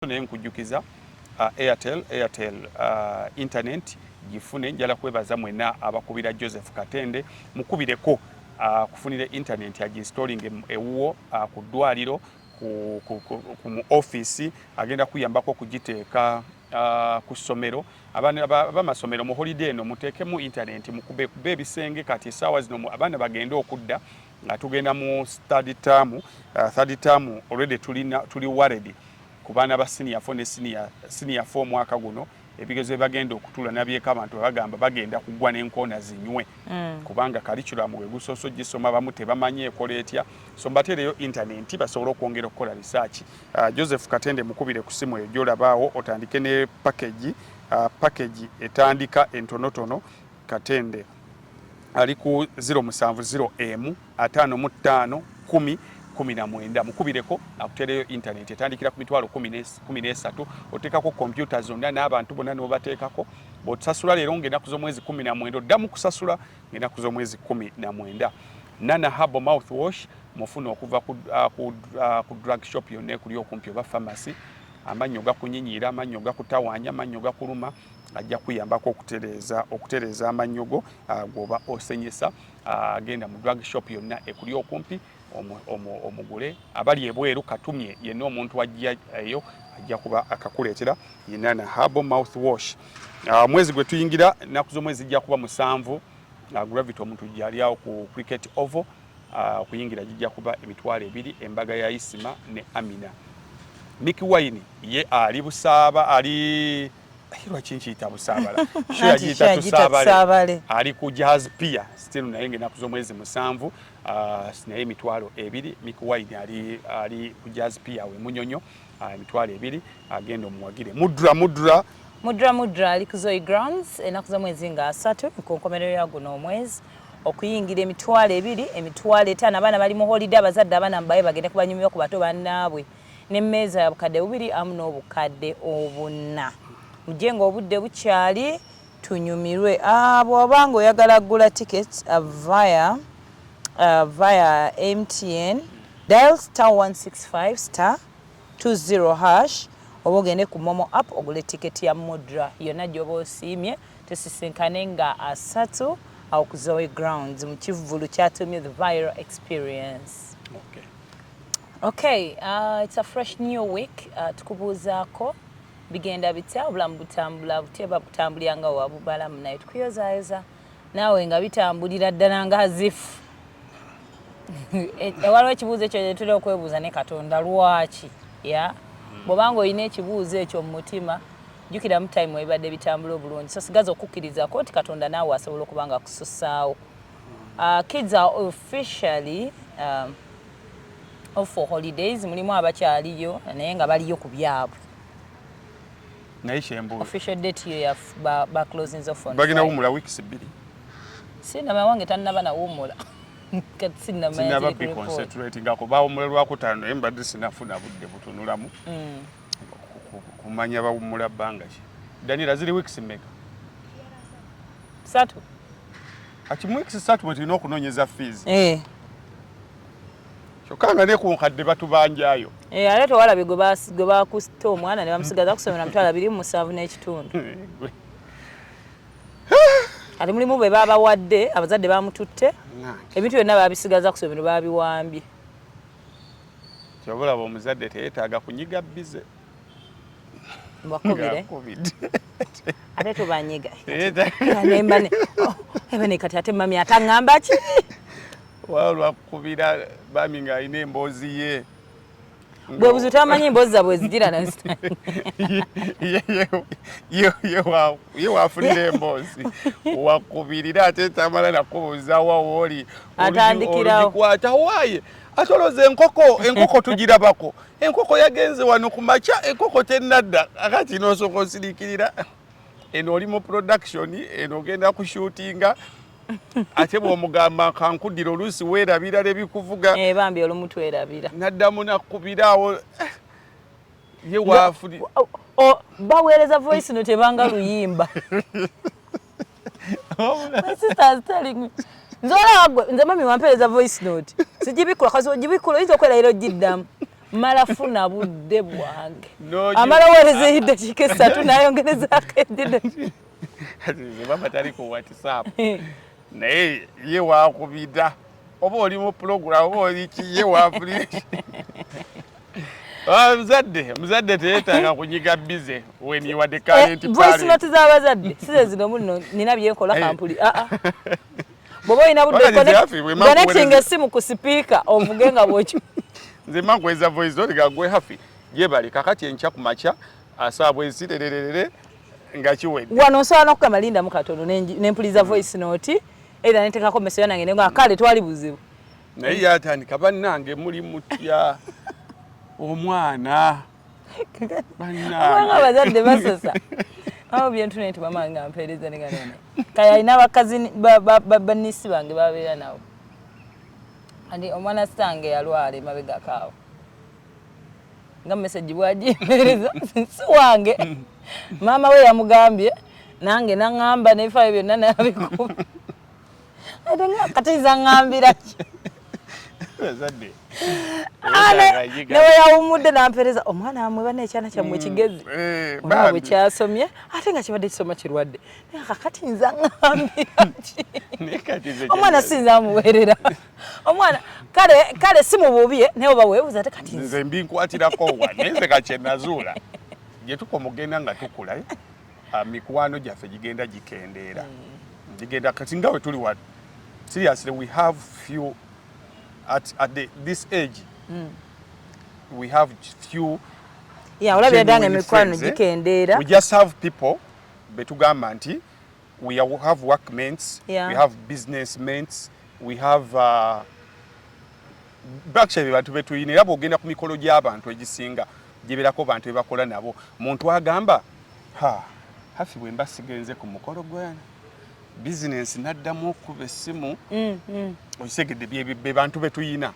naye nkujjukiza uh, Airtel Airtel uh, internet gifune njala kwebaza mwena abakubira Joseph Katende mukubireko uh, kufunire internet aginstalling ewuwo uh, ku ddwaliro ku, ku, ku, ku mu office agenda kuyambako okugiteeka uh, ku ssomero abamasomero mu holiday eno muteekemu internet mukubekube ebisenge kati esaawa zino abaana bagende okudda nga tugenda mu study term uh, third term already tuli tuli worried ku baana ba senior 4 ne senior senior 4 mwaka guno ebigezo bagenda okutula nabyeka abantu bagamba bagenda kugwa n'enkoona zinywe mm. kubanga kalikulamu we gusoso gisoma bamu tebamanyi ekola etya so mbateereyo intaneti basobole okwongera okukola risaaki uh, joseph katende mukubire ku simu eyo gyolabaawo otandike ne pakegi uh, pakegi etandika entonotono katende ali ku 0770515519 mukubireko akutereyo intaneti etandikira ku mitwalo 13 oteekako kompyuta zonna n'abantu bonna n'obateekako bw'otusasula leero ng'enaku z'omwezi 19 oddamu kusasula ng'enaku z'omwezi 19 nana habo mouth wash mufuna okuva ku ah, ah, drug shop yonna ekuli okumpi oba pharmacy amannyo gakunyinyira amannyo gakutawanya amannyo gakuluma ajja kuyambako okutereeza okutereeza amannyo go ah, gwoba osenyesa ah, agenda mu drug shop yonna ekuli okumpi omugule abali ebweru katumye yenna omuntu ajja eyo ajja kuba akakuleetera inana harbo mouth wash ah, mwezi gwe tuyingira ennaku z'omwezi zijja kuba musanvu gravity omuntu gyali awo ku cricket ovo okuyingira gijja kuba emitwalo ebiri embaga ya isima ne amina miki wine ye ali busaaba ali lwaki nkiyita busaabala sho yagiyita tusaabale ali ku jazz pia still naye nga enaku z'omwezi musanvu ah, naye emitwalo ebiri mikuwaini ali, ali ku jazz pia we munyonyo ah, emitwalo ebiri agenda omuwagire mudra mudra mudra mudra ali ku zoe grounds enaku z'omwezi nga asatu ku nkomerero ya guno omwezi okuyingira emitwalo ebiri emitwalo etaano abaana bali mu holiday abazadde abaana mubaye bagende kubanyumibwa ku bato bannaabwe n'emmeeza ya bukadde bubiri amu n'obukadde obunna mujje ng'obudde bukyali tunyumirwe ah, bw'oba ng'oyagala kugula tickets uh, via, uh, via mtn dial star 165 star 20 hash oba ogende ku momo app ogule tiketi ya mudra yonna gyoba osiimye tusisinkane nga asatu awo ku zoe grounds mu kivvulu kyatuumye the viral experience okay. Okay, uh, it's a fresh new week uh, tukubuuzaako bigenda bitya obulamu butambula butya babutambulira nga wabubalamu naye tukuyozayoza naawe nga bitambulira ddala nga azifu e, e, waliwo ekibuuzo ekyo gyetuli okwebuuza ne katonda lwaki ya hmm. bwobanga olina ekibuuzo ekyo mu mutima jjukira mu time ebibadde bitambula obulungi so sigaza okukkirizako nti katonda naawe asobola okuba nga kususaawo Uh, kids are officially uh, off for holidays mulimu abakyaliyo naye nga baliyo ku byabwe naye kyembuuza official date yo ya ba, ba closings off on bagina wumula weeks bbiri sinama wange tannaba nawumula kati sinama sinaba bi concentrating ako bawumula lwakutaano naye mbadde sinafuna budde butunulamu mm. kumanya bawumula bbanga ki daniela ziri weeks mmeka satu akimu weeks satu mwe tulina okunoonyeza fees eh. kyokka nga ne ku nkadde batubanjayo eh, ate tewalabye gwe bakusta omwana ne bamusigaza kusomera mutwalo abiri mu musanvu n'ekitundu ati mulimu bwe babawadde abazadde bamututte ebintu byonna babisigaza kusomero babiwambye Kyova olaba omuzadde teyetaaga kunyiga bize mbakubire ate tubanyiga oh, ebane kati ate mami ataŋŋamba ki waba lwakukubira bami ng'alina emboozi ye bwe buzi tamanyi emboozi zabwe zigira ye wafunira emboozi wakubirira ate tamala nakubuuzawa wooli atandikirawo waye ate olowooza enkoko enkoko tugirabako enkoko yagenze wano ku makya enkoko tennadda akati nosooka osirikirira eno oli mu production eno ogenda kushutinga ate bwomugamba kankudira oluusi weerabira lebikuvuga eh, bambi olumu twerabira naddamu nakubiraawo eh, ye waafuli baweereza voice no tebanga luyimba My sister is telling me. Nze olaba gwe, nze mami wampeereza voice note. Sigibikkula, kasi ogibikkula oyinza okubeera era ogiddamu. Mala funa budde bwange. Amala weereza eddakiika essatu n'ayongerezaako eddida. Nze mama tali ku WhatsApp. Naye ye waakubida. oba oli mu pulogulamu oba oli kiye waafuli ah, muzadde muzadde teyetaaga kunyiga bize weniwadde kalentinoti eh, z'abazadde size zino muno nina byenkola eh. kampuli aa ah, ah. bwoba olina buddekonekitinga essimu ku sipiika ovuge nga bwokyo nze makweza voice note ga gwe hafi gyebali kakati enkya ku makya asaabwa ezirererere nga kiwedde wano nsobola n'okukama lindamu katono ne mpuliza mm. voice note Era netekako meso yana ngene nga kale twali buzibu. Naye yatandika bannange muli mutya omwana. Bannange. Abanga bazadde basosa. Awo bintu ne tubama nga mpereza ne ngana. Kaya ina bakazi banisi bange babera nawo. Andi omwana stange yalwale mabega kawo. nga message bwajimereza si wange maama we yamugambye nange naŋamba nebifayo byonna nabikuba ate nga kati nza ŋambira ki nawe yawumudde nampereza omwana wamwe bana ekyana kyammwe mm. kigezi eh, olaba bwe kyasomye ate nga kibadde kisoma kirwadde kakati nza ŋambira ki omwana sinza amuweerera omwana kale kale si mububi eh, naye oba weebuza te kati nze mbinkuwatirako wa naye nze ka kyenazuula gye tukoma okugenda nga tukula eh, ah, mikwano gyaffe gigenda gikendeera hmm. gigenda kati nga we tuli wa seriously we have few at, at the, this age mm. we have few yeah, olabira danga emikwano eh? gikendeera we just have people betugamba nti we have work mates, yeah. we have business mates, we have uh, actually bantu betuyina era bwogenda ku mikolo gy'abantu egisinga giberako bantu bebakola nabo muntu agamba ha hafi bwemba sigenze ku mukolo gwe bizinensi naddamu okuba essimu mm, mm. okitegedde be bantu betuyina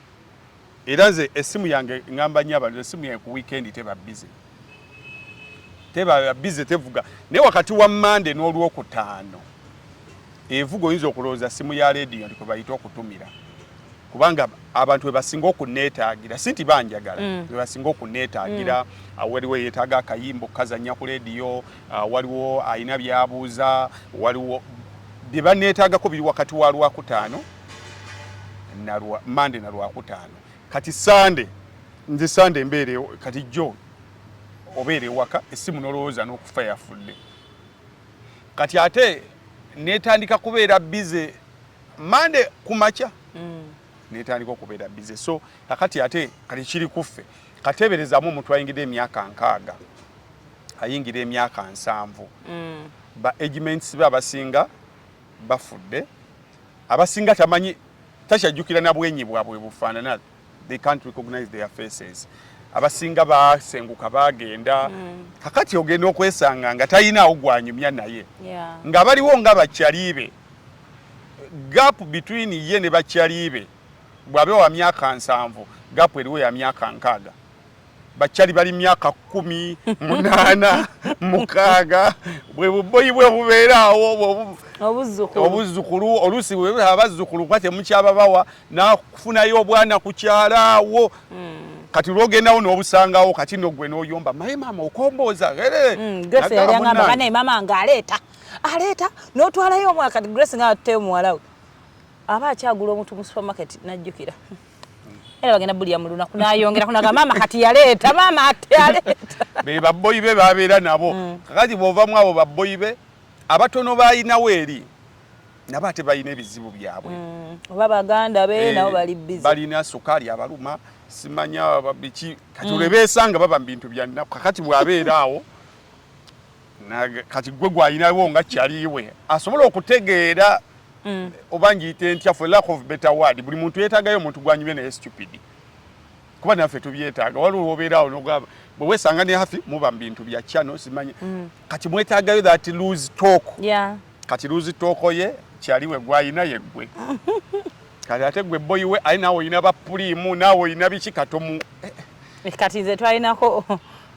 Era nze essimu yange ngamba nnyo abantu essimu yange ku wiikendi teba bize, teba bize, tevuga naye wakati wa Mmande n'Olwokutaano evuga. Oyinza okulowooza ssimu ya leediyo ndi kwe bayita okutumira, kubanga abantu bebasinga okunneetaagira, si nti banjagala, mm. bebasinga okunneetaagira. Mm. Waliwo eyeetaaga akayimba okukazannya ku leediyo, waliwo alina byabuuza, waliwo bye banneetaagako biri wakati wa Lwakutaano nalwa mande na lwakutaano kati sande nze sande mbeere kati jo obeere waka esimu nolowooza n'okufa yafudde kati ate netandika kubeera bize mande ku makya mm. netandika okubeera bize so kakati ate kati kiri kuffe kateeberezamu omuntu ayingira emyaka nkaaga ayingira emyaka nsanvu mm. ba agments be abasinga bafudde abasinga tamanyi takyajjukira na bwenyi bwabwe bufaanana they can't recognize their faces abasinga basenguka bagenda mm. kakati ogenda okwesanga nga talinaawo gwanyumya naye yeah. nga baliwo nga bakyaliibe gap between ye ne bakyaliibe bwabe wa myaka nsanvu gap eriwo ya myaka nkaaga bakyali bali myaka kumi munaana mukaaga bwe buboyi bwe bubeeraawo obuzzukulu oluusi abazzukulu kuba temukyababawa nakufunayo obwana kukyalaawo hmm. kati lwogendawo nobusangawo kati nogwe noyomba maye maama okombooza hmm, maama nga aleeta aleeta notwalayo omwaka grace nga atte omuwalawe aba akyagula omuntu mu supermarket najjukira era bagenda bulya mu lunaku nayongerako naga maama kati yaleeta maama ati yaleeta be babboyi be babeera nabo mm. kakati bwovamu abo babboyi be abatono balinawo eri nabo ate balina ebizibu byabwe mm. oba baganda be eh, nabo bali bizi balina sukaali abaluma simanya biki kati mm. olwebeesanga baba mu bintu byanaku kakati bwabeera awo kati gwe gwalinawo nga kyaliwe asobola okutegeera mm. oba ngiyite ntya for lack of better word buli muntu yetagayo omuntu gwanyumye naye stupid kuba naffe tubyetaaga waliwo obeeraawo nogamba bwe wesanga ne hafi muba mu bintu bya kyano simanyi mm. kati mwetagayo that lose talk yeah. kati lose talk ye kyaliwe gwalina yeggwe kati ate gwe boyi we aye naawe olina bapuliimu naawe olina biki katomu eh, eh. kati nze twalinako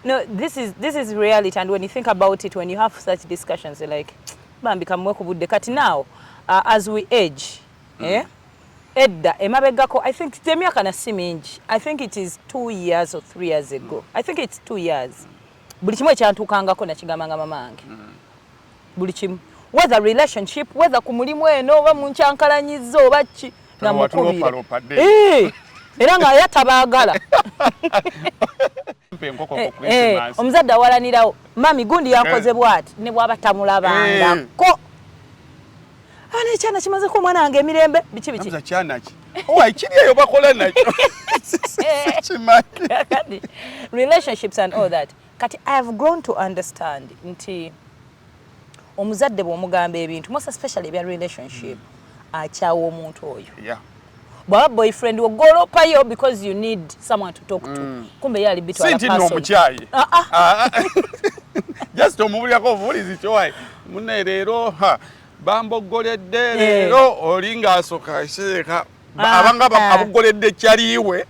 No, this is, this is reality and when you think about it, when you have such discussions, you're like, bambi kamwe kubudde kati now uh, as we age mm. eh? edda emabegako i think temyaka na si mingi i think it is two years or three years ago mm. i think it's two years buli kimu ekyantuukangako nakigambanga mama wange mm. buli kimu whether relationship whether ku mulimu eno oba munkyankalanyizza oba ki namukubira era nga aya tabaagala eh, eh, omuzadde awalanirawo mami gundi yankoze eh. bwati ne bwaba tamulabangako ana ekyana kimazeko omwana wange emirembe biki biki kiri eyo bakola nakyo kimanyi relationships and all that Kati I have grown to understand nti omuzadde bw'omugamba ebintu most especially ebya relationship mm. akyawa omuntu oyo yeah. bwaba boyfriend wogolopayo because you need someone to talk to mm. kumbe yali bitwalaomukyayi ah, ah. ah, just omubulirako obuwulizi kyowaye mune leero bambogoledde eh. leero oli ng'asoka seeka ah, abanga ah. abugoledde kyaliiwe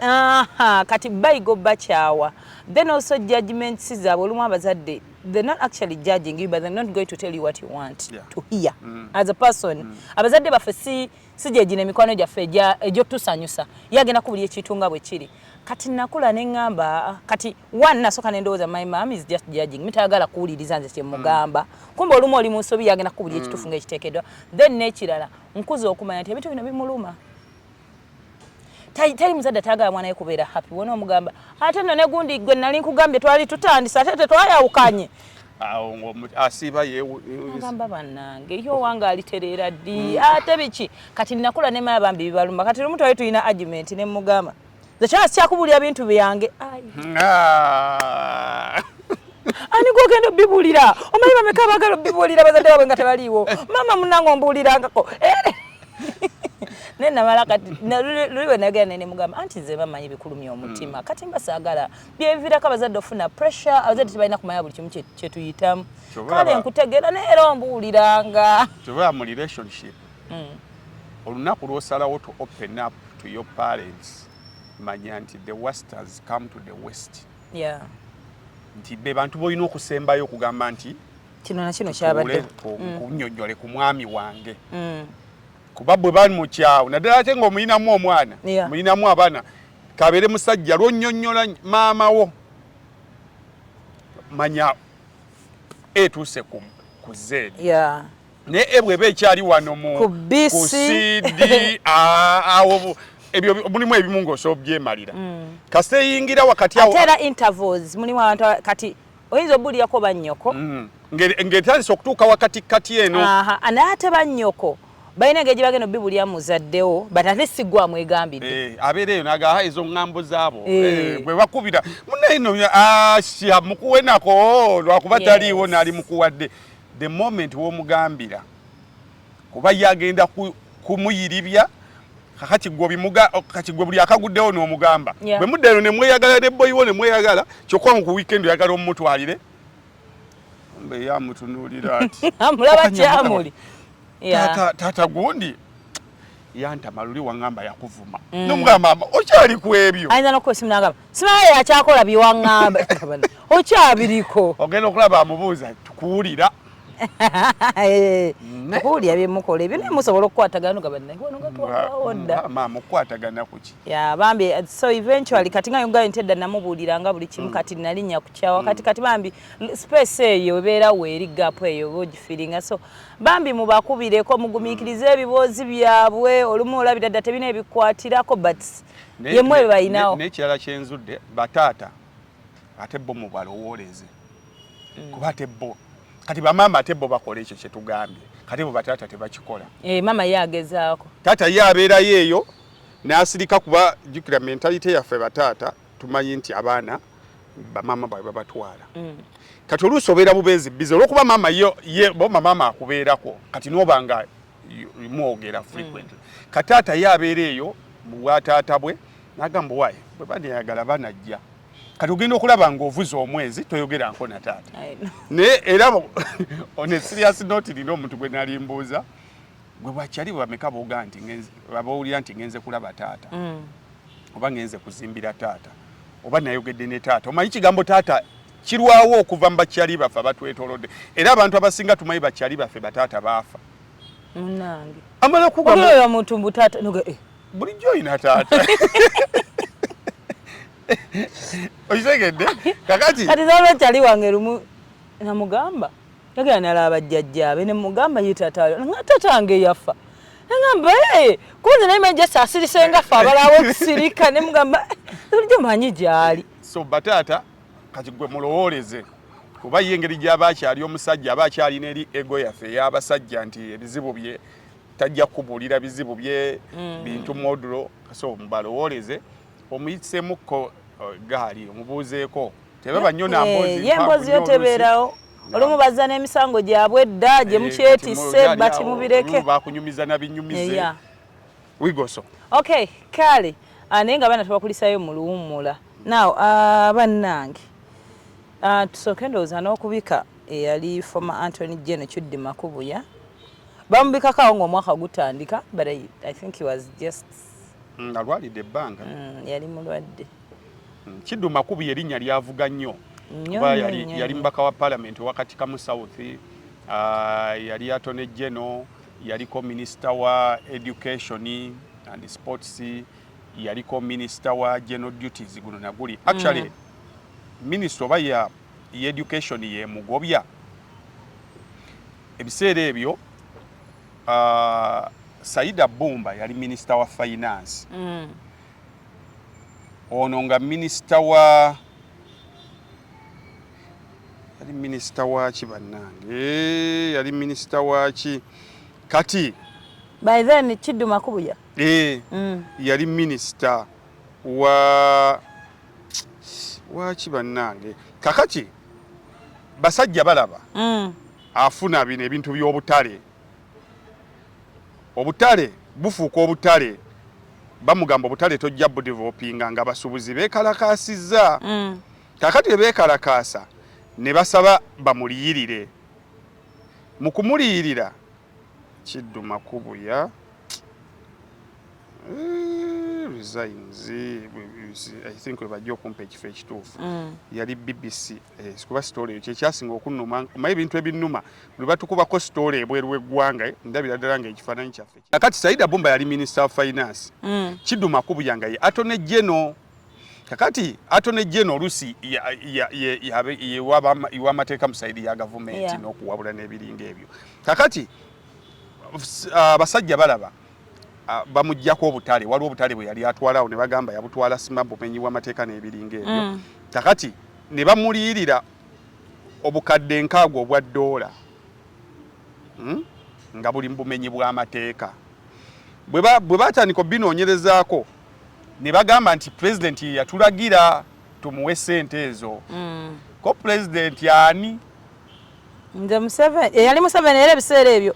kati bayigo bakyawa then also judgment sizaabwe olumu abazadde they're not actually judging you but they're not going to tell you what you want yeah. to hear mm. as a person mm. abazadde baffe si si gyegina emikwano gyaffe egyotusanyusa ye agenda ku buli ekintu nga bwe kiri kati nakula ne ŋŋamba kati one nasooka ne ndowooza my mam is just judging mi tayagala kuwuliriza nze kyemugamba mm. kumbe olumu oli mu nsobi yagenda ku buli mm. ekitufu nga ekiteekeddwa then n'ekirala nkuze okumanya nti ebintu bino bimuluma teri muzadde atagala mwana we kubeera happy wona omugamba ate no negundi gwe nali nkugambye twali tutandise ate tetwayawukanye awo ng'asiiba yeagamba bannange yo owange alitereera ddi mm. ate biki kati nakula nemaya bambi bibaluma kati lumu twali tulina argument ne mugamba nze kyona sikyakubuulira bintu byange ah. ani gwogenda obibuulira omanyi bameka abagala obibuulira bazadde babwe nga tebaliiwo maama munange ombuulirangako eh. naye namala kati luli bwe nagera naye nemugamba anti nze bamanyi bikulumya omutima mm. kati mba saagala byevirako abazadde ofuna pressure abazadde tebalina kumanya buli kimu kyetuyitamu kale nkutegeera naye era ombuuliranga mm. olunaku lwosalawo to open up to your parents manya nti the west has come to the west yeah. nti be bantu bolina okusembayo okugamba nti kino nakino kyabadde mm. kunyonyole ku mwami wange mm. kuba bwe bali mukyawo naddala ate ngaomuyinamu omwana yeah. muyinamu abaana kabere musajja lwonyonyola maama wo manya etuuse ku zeedi yeah. ne ebwe ebe ekyali wano mu ku CD awo ebyo mulimu ebimu ng'osobola obyemalira mm. kasita eyingira wakati awo ate era intervals mulimu abantu kati oyinza obuulirako bannyoko mm. ng'etandise okutuuka wakati kati eno naye ate bannyoko balina engeri gyebagenda obibulya muzaddewo but ate sigwa mwegambidde eh, abeera eyo nagaha ezo ŋŋambo zaabo eh. Eh, bwe bakubira munaye no asya ah, mukuwenako oh, lwakuba taliiwo naali mukuwadde the moment womugambira kuba ye agenda kumuyiribya kakati gwe buli akaguddewo n'omugamba bwe mudda eno nemweyagala ne boyiwo nemweyagala kyokka ngu ku wiikendi oyagala omumutwalire mbe ye amutunuulira ati amulaba kyamuli taata gundi yantama luli wangamba yakuvuma mm. nomugamba mama okyali ku ebyo ayinza nokuba esimu nagamba simaye yakyakola byewangamba okyabiriko ogenda okulaba amubuuza tukuwulira eh, mm. okuwulira byemukola ebyo naye musobola okukwatagana ogabannaewanogatuwaodda mm, mama okukwatagana kuki ya bambi eh, so eventually kati nga yogayo nti edda namubuuliranga buli kimu kati nalinnya kukyawa kati kati bambi space eyo ebeera weeri gapu eyo oba ogifiringa so bambi mubakubireko mugumikirize mm. ebiboozi byabwe olumu olabira dda tebina ebikwatirako but yemu ebyo balinawo nekirala kyenzudde bataata ate bo mubalowooleze mm. kuba ate bo kati bamaama ate bo bakola ekyo kyetugambye kati bo bataata tebakikola eh, maama ye agezaako taata ye abeerayo eyo n'asirika kuba jukira mentalite yaffe bataata tumanyi nti abaana bamaama baabwe babatwala mm. kati oluusi obeera bubeezi bize olwokuba maama ye boma maama akubeerako kati noba nga mwogera frequently mm. kataata ye abeera eyo mubwataata bwe nagamba waye bwe baneyagala banajja kati ogenda okulaba ng'ovuze omwezi toyogeranko na taata naye era on a serious note nina omuntu gwe nalimbuuza gwe bwakyali bwebameka boga nti babawulira nti ngenze kulaba taata mm. oba ngenze kuzimbira taata oba nayogedde ne taata omanyi kigambo taata kirwawo okuva mubakyali baffe abatwetolodde era abantu abasinga tumanyi bakyali baffe bataata baafa munange amala kugaoyo muntu mbu taata eh. bulijjo olina taata okitegedde kakati kati nolwekyali wange lumu namugamba yagenda nalaba jjajjaabe ne mugamba ye taata nga taata wange yafa nagamba ee kunze naye manje sasirise nga fe abalawo tusirika ne mugamba bulijjo manyi gyali so bataata kati gwe mulowooleze kuba ye engeri gyaba akyali omusajja aba akyalina eri ego yaffe ey'abasajja nti ebizibu bye tajja kubuulira bizibu bye mm. bintu modulo so mubalowooleze omuyitsemukko uh, gaali omubuuzeeko tebaba nyo na mbozi eh, ye mbozi yo teberawo olumu bazza n'emisango gyabwe edda gye eh, mukyetisse bati mubireke bakunyumiza na binyumize eh, wigoso okay kale ah, naye nga abaana tubakulisayo mu luwummula now ah, bannange ah, tusooke ndowooza n'okubika eyali former antony jeno kiddi makubuya bamubikako awo ngaomwaka gutandika but I, i think he was just mm, alwalidde ebbanga mm, yali mulwadde Mm, Kiddu Makubi erinnya lyavuga nnyo kuba yali mubaka wa palamenti owakatikamu south ah, yali atone geno yaliko minisita wa education and sports yaliko minisita wa general duties guno naguli actually mm. minisita oba ya education yemugobya ebiseera ebyo uh, saida bumba yali minisita wa finance mm. ono nga minisita wa yali minisita waki bannange eh, yali minisita waki kati by then kiddu makubuya eh, mm. yali minisita wa waki bannange kakati basajja balaba mm. afuna bino ebintu by'obutale obutale bufuuka obutale bamugamba obutale tojja budevelopinga nga basubuzi bekalakaasizza mm. kakati ebekalakaasa ne basaba bamuliyirire mu kumuliyirira kidduma kubuya eh, resigns i think webajja okumpa ekifo ekituufu mm. yali bbc Eh, sikuba sitoola eyo kyekyasinga okunnuma omaye ebintu ebinnuma buli batukubako sitoola ebweru w'eggwanga eh, ndabira ddala nga ekifaananyi kyaffe kakati saida bumba yali minisita wa finance mm. kiduma kubuya nga ye atone geno kakati atone geno oluusi iwamateeka mu saidi ya gavumenti n'okuwabula n'ebiringa ebyo kakati uh, abasajja balaba bamuggyako obutale waliwo obutale bwe yali atwalawo ne bagamba yabutwala sima bumenyi bw'amateeka n'ebiringa ebyo mm. kakati ne bamuliyirira obukadde nkaago obwa ddoola hmm? nga buli mubumenyi bw'amateeka bwe batandika obinoonyerezaako ne bagamba nti pulezidenti ye yatulagira tumuwe sente ezo mm. ko pulezidenti ani nze museveni eyali museveni era ebiseera ebyo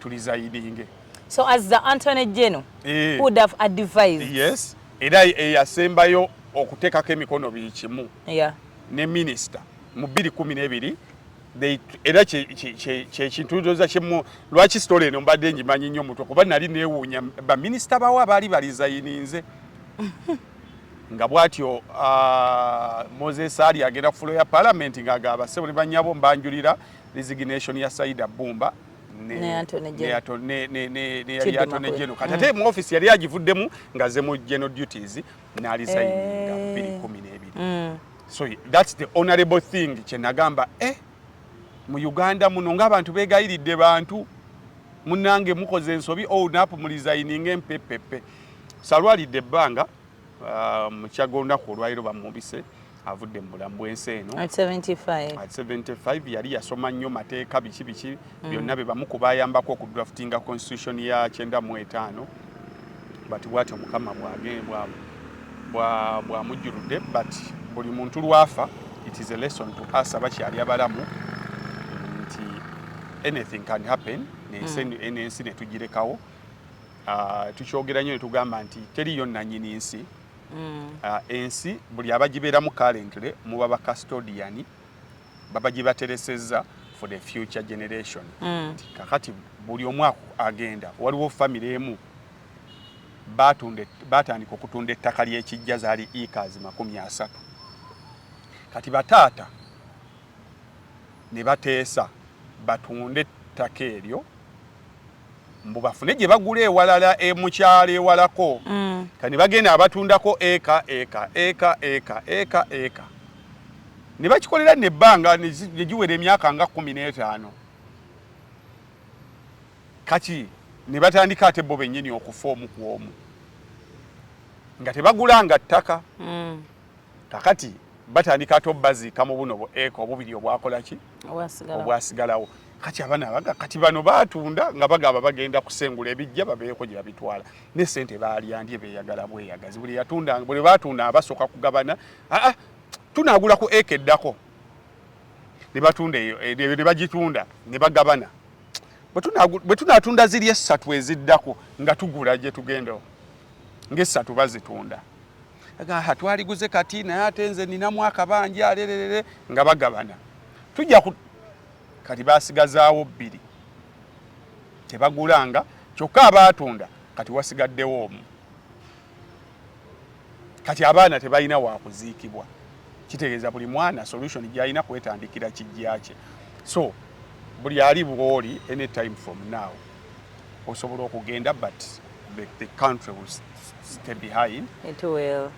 tulizayidinge so as the antony geno eh. would have advised yes era eyasembayo okuteekako emikono biri kimu yeah. ne minisita mu bbiri kumi n'ebiri era kyekintu ndoza kimu lwaki sitole eno mbadde ngimanyi nnyo mutwe kuba nali neewuunya baminisita bawo abaali balizayininze nga bwatyo ah, moses ali agenda ku fulo ya palamenti ng'agaba sebo ne bannyabo mbanjulira resignation ya Saida Bumba ne Anthony Jeno kati ate mu office yali agivuddemu nga ze mu general duties n'alisayininga eh. biri kumi n'ebiri mm. so that's the honorable thing kye nagamba eh mu Uganda muno ng'abantu beegayiridde bantu munange mukoze ensobi oh, napu mulizayininga empepepe salwalidde ebbanga Ah, mu kyaga olunaku olwaliro bamwubise avudde mu bulamu bw'ensi eno at 75 yali yasoma nnyo mateeka biki biki mm. byonna be bamu ku bayambako okudraftinga constitution ya kyenda mu etaano but bwatyo mukama bwamujjuludde but buli muntu lwafa it is a lesson to us abakyali abalamu nti anything can happen nensi mm. netugirekawo Ah, tukyogera nnyo netugamba nti teriyo nanyini nsi mm. ah, ensi buli abagibeeramu currently muba ba custodian baba gibateresezza for the future generation mm. kakati buli omu agenda waliwo famire emu batandika okutunda ettaka lyekijja zaali ekazi makumi asatu kati bataata ne bateesa batunde ettaka eryo mbu bafune gye bagula ewalala e mukyalo ewalako mm. kani bagenda abatundako eka eka eka eka eka eka ne bakikolera nebbanga ne giwera emyaka nga kumi n'etaano kati ne batandika ate bo bennyini okufa omu ku omu nga tebagulanga ttaka mm. kakati batandika ate obaziika mu buno bueka obubiri obwakolaki obwasigalawo kati abana abaga kati bano batunda nga bagaba bagenda kusengula ebijja babeeko gye babitwala ne sente baalyandye beeyagala bweyagazi buli yatunda buli batunda abasooka kugabana aa tunaagula ku eka eddako ne batunda eyo eh, ne bagitunda ne bagabana bwe tunaatunda ziri essatu eziddako nga tugula gye tugendawo ng'essatu bazitunda agaha twaliguze kati naye ate nze ninamu akabanja alererere nga bagabana tujja ku kati basigazaawo bbiri tebagulanga kyokka abaatunda kati wasigaddewo omu kati abaana tebalina wakuziikibwa kitegeeza buli mwana solution gyalina kwetandikira kijja kye so buli ali bwoli any time from now osobola okugenda but the, the country will stay behind it will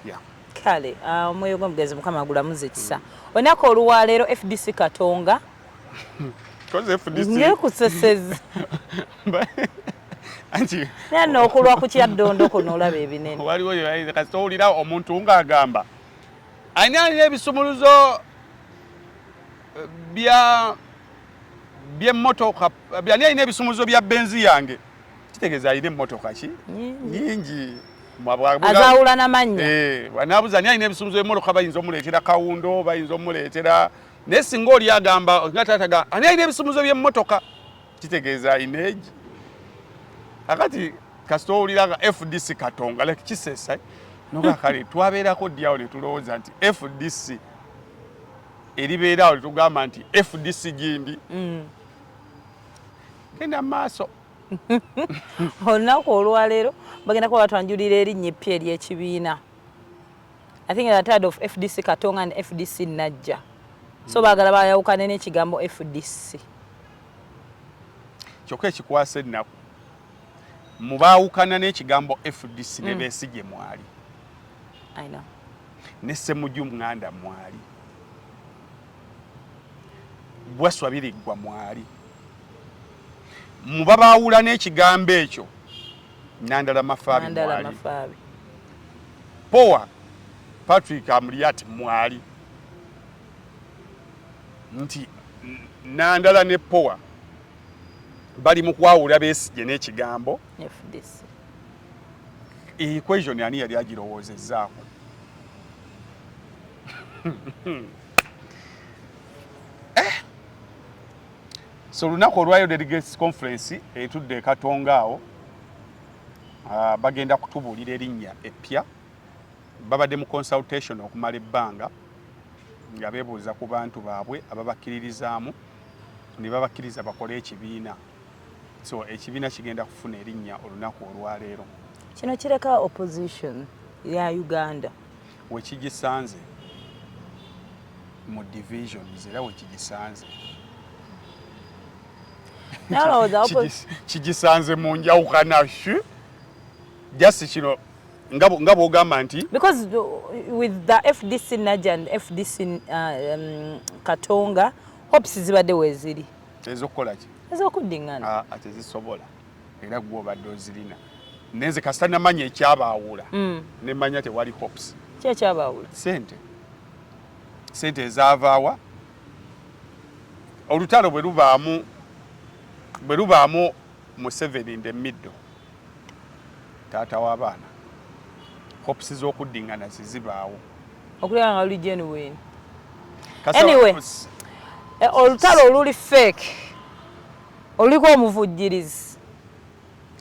yeah kale ah, omwoyo gw'omugenzi mukama agulamuza ekisa olunaku oluwaleero fdc katonga ngekuseseza naye nokulwa ku kyaddondo kuno olaba ebinene waliwo kasita owulira omuntu ng'agamba ani alina ebisumuluzo eh, bya by'emmotoka byani alina ebisumuzo bya benzi yange kitegeeza alina emmotoka ki nyingi azawula namannya eh, nabuza ani alina ebisumuzo by'emmotoka bayinza omuleetera kawundo bayinza omuleetera naye singa oli agamba nga taataga ani alina ebisumuzo by'emmotoka kitegeeza alina egi akati kasita owulira nga fdc katonga like kisesa eh? noga kale twabeerako dyawo ne tulowooza nti fdc eribeera awo litugamba nti fdc gindi mm. genda maaso olunaku olwaleero bagenda kuba batwanjulira erinnya eppya ery'ekibiina i think the tired of fdc katonga and fdc najja so mm. baagala bayawukane n'ekigambo fdc kyokka ekikwasa ennaku mubaawukana n'ekigambo fdc ne mm. besigye mwali ne Ssemuju Nganda mwali, Bwaswa Biriggwa mwali, mubabaawula n'ekigambo ekyo Nandala Mafaabi mwali, Powa Patrick Amuriat mwali nti Nandala ne Powa bali mu kwawula Besigye n'ekigambo FDC. equation ani yali agirowoozezzaako eh? so olunaku olwayo delegates conference etudde ekatonga awo ah, bagenda kutubuulira erinnya eppya babadde mu consultation okumala ebbanga nga bebuuza ku bantu baabwe ababakkiririzaamu ne babakkiriza bakole ekibiina so ekibiina kigenda kufuna erinnya olunaku olwaleero kino kireka opposition ya uganda wekigisanze mu divisions era wekigisanze kigisanze mu njawukana just kino nga bwogamba nti because with the fdc naja and fdc uh, um, katonga hopes zibadde weziri ezokukola ki ezokuddingana ah, ah, tezisobola era gwe obadde ozirina naye nze kasita namanya ekyabaawula mm. nemanya tewali hops ki ekyabaawula sente sente ezaavaawa olutalo bwe lubaamu bwe lubaamu museveni in the middle taata w'abaana hopes z'okuddingana zizibaawo okulaba nga luli genuine anyway eh, olutalo oluli fake oluliko omuvujjirizi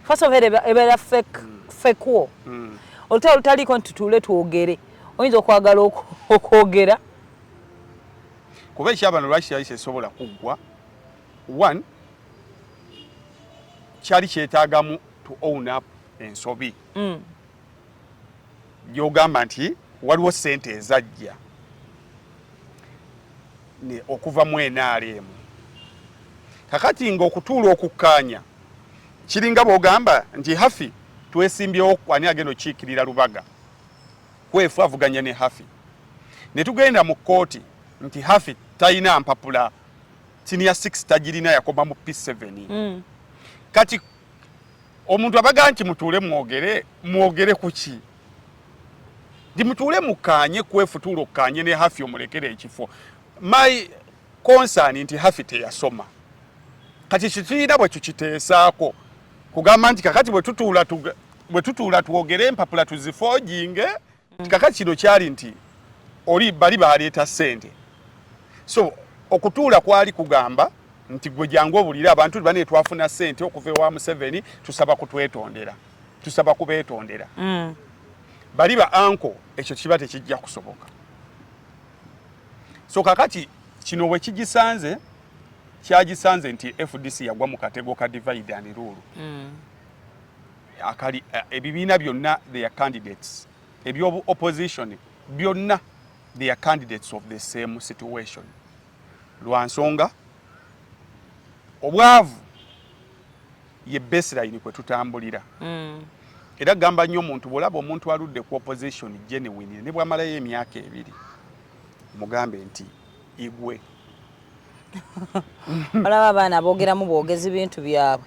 first of ebeera fake mm. fake wo mm. olutalo olutaliiko nti tutuule twogere oyinza okwagala okwogera kuba ekyabano lwaki kyali kyesobola kuggwa one kyali kyetagamu to own up ensobi mm. gyogamba nti waliwo sente ezajja okuva mu NRM kakati nga okutuula okukkaanya kiringa bwogamba nti hafi twesimbyewo ani agenda okiikirira lubaga kwefu avuganya ne hafi ne tugenda mu kkooti nti hafi talina mpapula senior 6 tagirina yakoma mu P7 mm. kati omuntu abaga nti mutuule mwogere mwogere kuki ndi mutuule mukanye kwefutuula okukanye ne hafi omulekere ekifo my concern nti hafi teyasoma kati kituyina bwe tukiteesaako kugamba nti kakati bwe tutuula bwe tutuula twogere empapula tuzifoojinge mm. kaka kino kyali nti oli bali baleeta sente so okutuula kwali kugamba nti gwe jangu obulire abantu bane twafuna sente okuva ewa museveni tusaba kutwetondera tusaba kubetondera mm. bali ba anko ekyo kiba tekijja kusoboka so kakati kino wekigisanze kyagisanze nti fdc yagwa mu katego ka divide and rule mm. akali eh, ebibiina byonna their candidates ebyobu opposition byonna they are candidates of the same situation lwa nsonga obwavu ye baseline kwe tutambulira mm. era gamba nnyo omuntu bwolaba omuntu aludde ku opposition genuine ne bwamalayo emyaka ebiri mugambe nti igwe olaba abaana boogeramu bwogezi bintu byabwe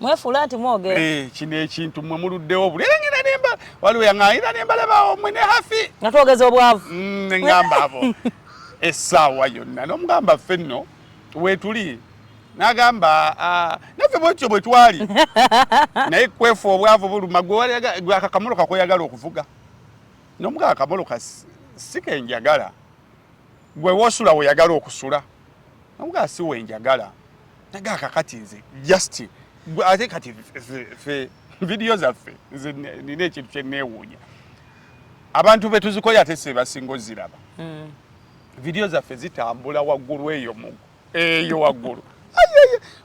mwefuula nti mwogera eh, kino ekintu mwe muluddewo obulengera nemba waliwo yaŋayira nembalabawo mwe ne hafi nga twogeza obwavu mm, neŋamba abo essaawa yonna nomugamba ffe nno wetuli nagamba ah, naffe bwetyo bwe twali naye kwefu obwavu buluma gwe akakamolo kakweyagala okuvuga nomugamba akamolo si kenjagala gwe wosula weyagala okusula namugaa si wenjagala naga akakati nze just ate kati fe vidiyo zaffe nze nina ekintu kyenewuunya abantu betuzikoye ate sebasinga oziraba hmm. vidiyo zaffe zitambula waggulu eyo mu eyo waggulu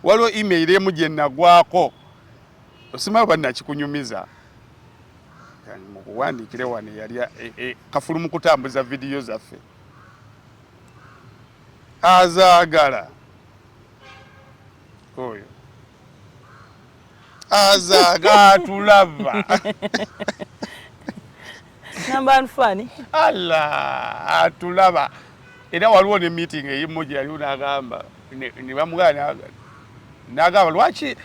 waliwo email emu gyenagwako osimayo banakikunyumiza mukuwandiikire wano eyali e, e, kafulu mu kutambuza vidiyo zaffe azaagala oyo azaga atulaba nambanfani ala atulaba era waliwo ne meeting eyimu gyeyaliwo nagamba nebamugana nagamba lwaki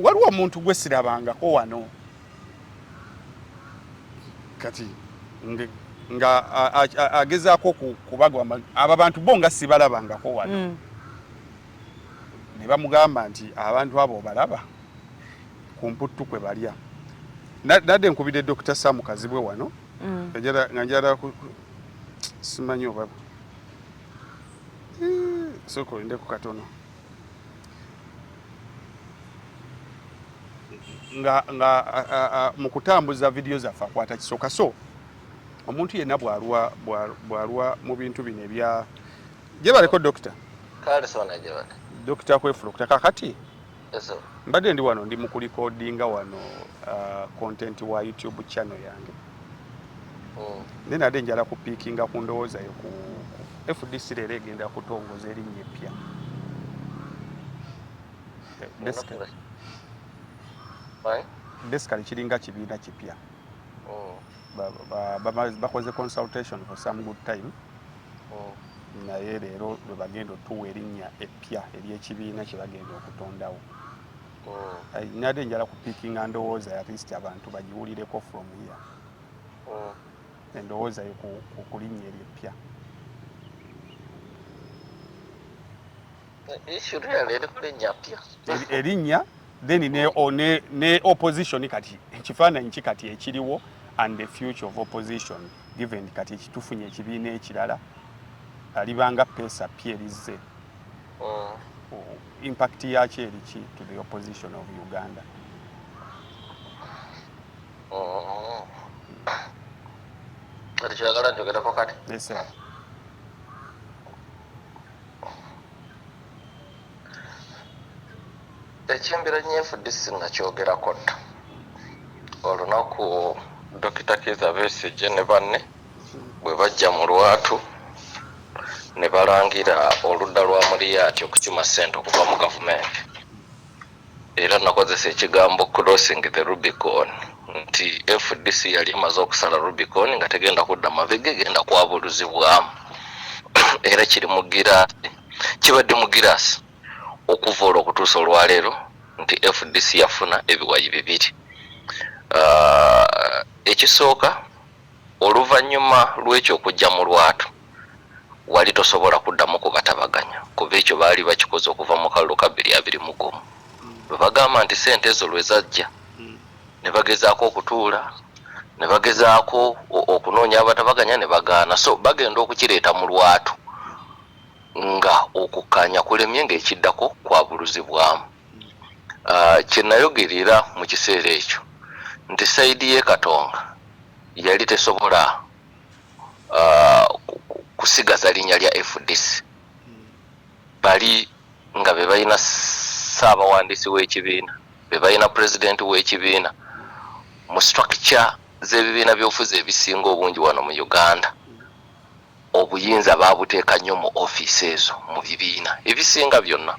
waliwo omuntu gwesirabangako wano kati nga agezaako kubagwa abo abantu bo nga sibalabangako wano mm. ne bamugamba nti abantu abo obalaba ku mputtu kwe balya nadde nkubidde dokita samu kazibwe wano mm. nga njala simanyi oba eh, sokoindeko katono nga nga mu kutambuza vidiyo zaffe akwata kisoka so omuntu yenna bwalwa bwalwa mu bintu bino ebya gyebaleko dokita dokita kwefulukuta kakati mbadde ndi wano ndi mu kulikodinga wano content wa youtube channel yange oh. naye nade njala kupiikinga ku ndowooza yo ku fdc leero egenda kutongoza erinnya eppya basically kiringa kibiina kipya oh. bakoze consultation for some good time oh. naye leero lwebagenda otuwa erinnya eppya ery'ekibiina kyebagenda okutondawo oh. eh, nade njala ku picking and owoza at least abantu bajiwulire ko from here oh. and owoza ku kulinya eri pya issue real eri kulinya pya erinya then ne oh. ne ne opposition kati kifana nchi kati ekiriwo and the future of opposition given kati ekitufunye ekibiina ekirala alibanga pesa pyerizze oh. impact yakyo eriki to the opposition of uganda oh. kati kyagala njogerako kati ekimbira nyefu disi nga kyogerako dda olunaku dokita kiza besigye ne banne Bwe bajja mu lwatu ne balangira oludda lwa Muliyaati okukima ssente okuva mu Gavumenti era nakozesa ekigambo crossing the Rubicon nti fdc yali emaze okusala Rubicon nga tegenda kudda mabega egenda kwabuluzibwamu era kiri mu giraasi kibadde mu giraasi okuva olwo okutuusa olwaleero nti fdc yafuna ebiwayi bibiri. Ah, ekisooka Oluvannyuma lw'ekyo okujja mu lwatu, wali tosobola kuddamu kubatabaganya, kuba ekyo baali bakikoze okuva mu kalulu ka bbiri abiri mu gumu, bwe bagamba nti ssente ezo lwe zajja, ne bagezaako okutuula, ne bagezaako o, okunoonya abatabaganya ne bagaana. So, bagenda okukireeta mu lwatu, nga okukkaanya kulemye, nga ekiddako kwabuluzibwamu. Ah, kye nayogerera mu kiseera ekyo nti sayidi ye Katonga yali tesobola ah, ku- ku- kusigaza linnya lya FDC bali nga be balina ssaabawandiisi w'ekibiina be balina pulezidenti w'ekibiina mu structure z'ebibiina by'obufuzi ebisinga obungi wano mu uganda obuyinza babuteeka nnyo mu ofiisi ezo mu bibiina ebisinga byonna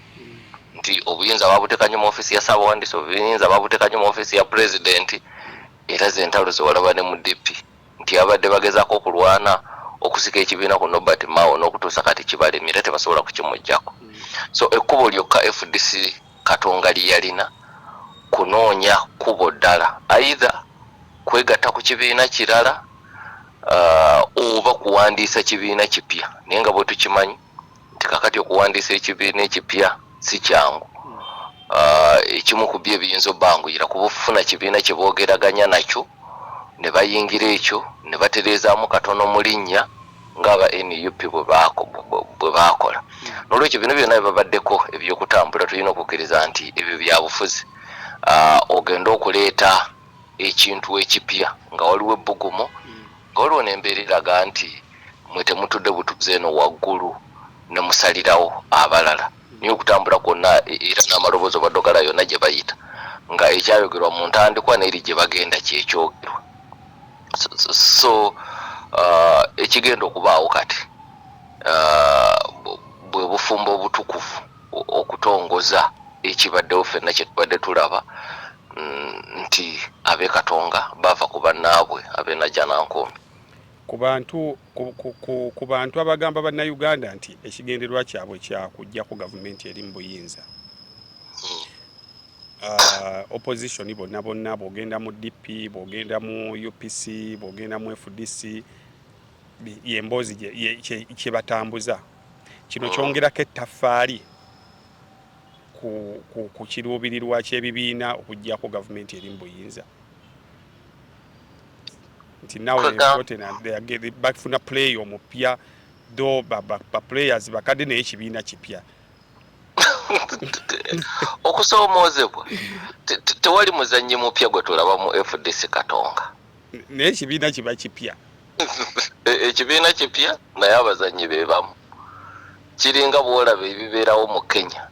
nti obuyinza babuteeka nnyo mu ofiisi ya saabawandiisi obuyinza babuteeka nnyo mu ofiisi ya pulezidenti era zentalo zewalaba ne mu dp nti abadde bagezaako okulwana okusika ekibiina ku nobert mao n'okutuusa kati kibalemye era tebasobola kukimugjako so ekkubo lyokka fdc katonga lyeyalina kunoonya kkubo ddala aidha kwegatta ku kibiina kirala uh, oba kuwandiisa kibiina kipya naye nga bwetukimanyi nti kakati okuwandiisa ekibiina ekipya si kyangu uh, ekimu ku byo ebiyinza obbanguyira kuba ofuna kibiina kye boogeraganya nakyo ne bayingira ekyo ne batereezaamu katono mu linnya ngaaba nup bwe baakola nolwekyo bino byonna bibabaddeko ebyokutambula tulina okukkiriza nti ebyo byabufuzi uh, ogende okuleeta ekintu ekipya nga waliwo ebbugumu nga waliwo n'embeera eraga nti mwe temutudde butuuzi eno waggulu ne musalirawo abalala naye okutambula kwonna e, era n'amaloboozi obadde ogala yonna gye bayita nga ekyayogerwa mu ntandikwa n'eri gye bagenda kyekyogerwa so uh, ekigenda okubaawo kati uh, bwe bufumbo obutukuvu okutongoza ekibaddewo fenna kyetubadde tulaba mm, nti abe katonga bava ku bannaabwe abenajanankumbi ku bantu ku bantu abagamba bannayuganda nti ekigendererwa kyabwe kyakugjako gavumenti eri mu buyinza hmm. ah, opposition bonna bonna bwogenda mu dp bwogenda mu upc bwogenda mu fdc yemboozi kyebatambuza Kino kyongerako ettaffaali ku, ku, ku kiruubirirwa ky'ebibiina okuggyako gavumenti eri mu buyinza nti nawe bafuna play omupya do baplayers bakadde naye ekibiina kipya okusoomoozebwa tewali muzannyi mupya gwe tulaba mu fdc katonga naye ekibiina kiba kipya ekibiina kipya naye abazannyi be bamu kiringa bwolaba ebibeerawo mu kenya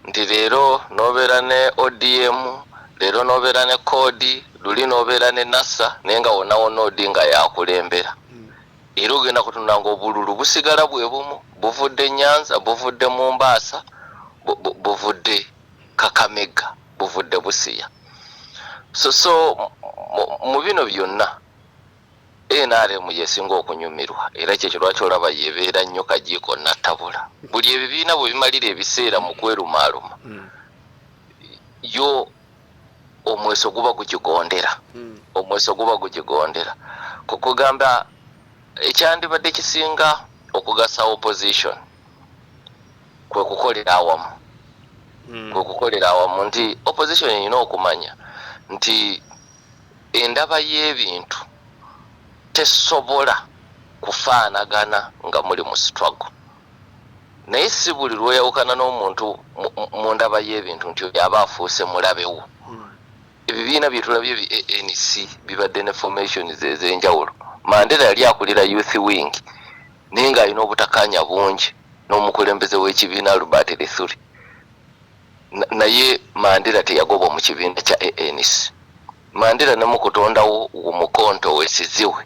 nti leero nobeera ne odm leero nobeera ne koodi luli nobeera ne nasa naye nga wonawona odi nga yakulembera era ogenda kutunda nga obululu busigala bwe bumu buvudde nyanza buvudde mu mbaasa buvudde kakamega buvudde busiya so so mu bino byonna nrm yesinga okunyumirwa era kyekyo lwaki olaba yebeera nnyo kajiiko nattabula buli ebibiina bwe bimalira ebiseera mu kwerumaaluma hmm. yo omweso guba gugigondera hmm. omweso guba gugigondera kukugamba ekyandibadde kisinga okugasa opposition kwe kukolera awamu hmm. kwe kukolera awamu nti opposition erina okumanya nti Endaba y'ebintu tesobola kufaanagana nga muli mu struggle. Naye si buli lw'oyawukana n'omuntu mu ndaba y'ebintu nti oyo aba afuuse mulabe wo. Hmm. Ebibiina bye tulabye bi ANC bibadde ne formations ez'enjawulo. Mandela yali akulira youth wing naye ng'alina obutakaanya bungi n'omukulembeze w'ekibiina Albert Lithuri. naye Mandela teyagobwa mu kibiina kya ANC. Mandela ne mu kutondawo Umukhonto we Sizihwe,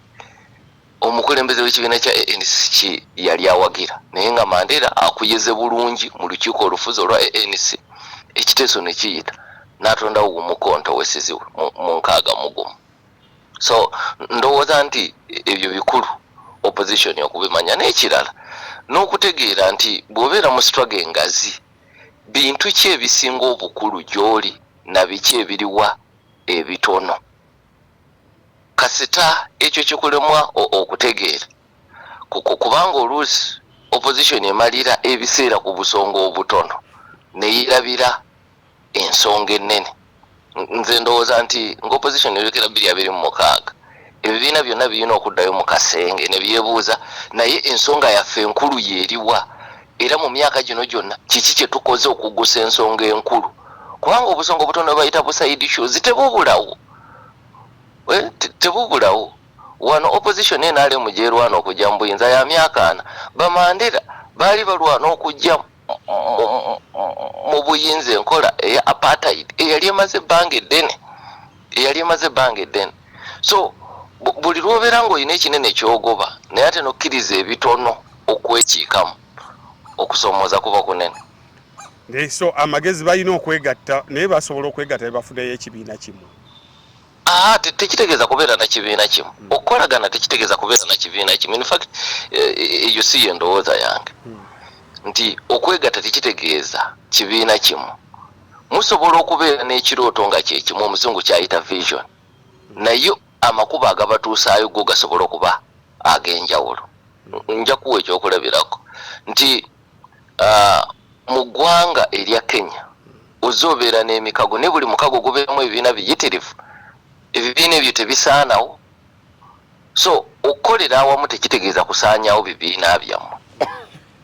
omukulembeze w'ekibiina kya ANC ki yali awagira, naye nga Mandela akuyeze bulungi mu lukiiko olufuzi olwa ANC, ekiteeso ne kiyita n'atondawo Umukhonto we Sizihwe mu nkaaga mu gumu. So ndowooza nti ebyo bikulu opposition okubimanya, n'ekirala n'okutegeera nti bw'obeera mu struggle engazi Bintu ki ebisinga obukulu gy'oli na biki ebiriwa ebitono? Kasita ekyo kikulemwa okutegeera, kubanga oluusi Opposition emalira ebiseera ku busonga obutono ne yeerabira ensonga ennene nze ndowooza nti nga opposition yolekera biri abiri mu mukaaga ebibiina byonna birina okuddayo mu kasenge ne byebuuza naye ensonga yaffe enkulu yeriwa era mu myaka gino gyonna kiki kye tukoze okugusa ensonga enkulu kubanga obusonga obutono bayita busaidi shows tebubulawo eh, tebubulawo wano opposition enalemu gyerwana okujja mu buyinza ya myaka ana bamandera baali balwana okujjamu mu buyinza enkola eya apartheid eyali emaze ebbanga eddene eyali emaze ebbanga eddene so buli lwobeera ngaolina ekinene kyogoba naye ate nokkiriza ebitono okwekiikamu okusomooza kuba kunene so amagezi balina okwegatta naye basobola okwegatta nebafunayo ekibiina kimu Aha, te- tekitegeeza kubeera na kibiina kimu okukolagana tekitegeeza kubeera na kibiina kimu in fact eh, eh, eyo si yendowooza yange nti okwegatta tekitegeeza kibiina kimu musobola okubeera n'ekirooto nga kyekimu omuzungu kyayita vision naye amakubo agabatuusaayo go gasobola okuba ag'enjawulo nja kuwa ekyokulabirako nti Ah, mu ggwanga erya Kenya ozze obeera n'emikago naye buli mukago gubeeramu ebibiina biyitirivu. Ebibiina ebyo tebisaanawo. So okukolera awamu tekitegeeza kusaanyaawo bibiina byammwe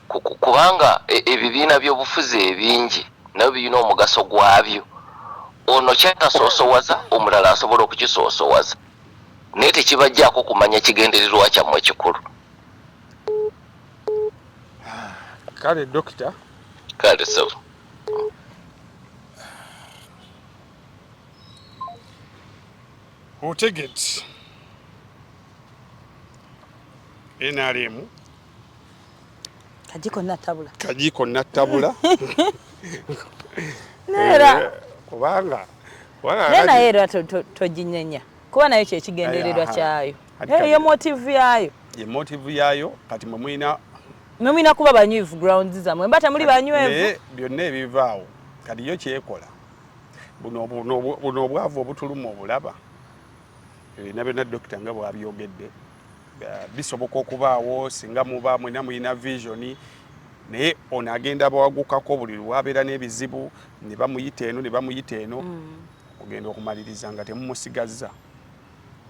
Ku- ku- kubanga e- ebibiina by'obufuzi ebingi nabyo birina omugaso gwabyo. Ono kyatasoosowaza omulala asobola okukisoosowaza naye tekibajjaako kumanya kigendererwa kyammwe ekikulu. kale dokita kale sebo otegedde nrm kajiko natabula kajiko natabula nera eh, kubanga nena era tojinyenya kuba nayo kyekigendererwa kyayo Hey, ye motive yayo ye motive yayo kati mwe mulina mwe mulina kuba banywivu grounds zamwe mba temuli banywevu byonna ebivaawo kati yo kyekola buno buno obwavu obutuluma obulaba ebina byonna dokita nga bwabyogedde bisoboka okubaawo singa muba mwena mulina vision naye ono agenda bawagukako buli lwabeera n'ebizibu ne bamuyita eno ne bamuyita eno mm. ogenda okumaliriza nga temumusigazza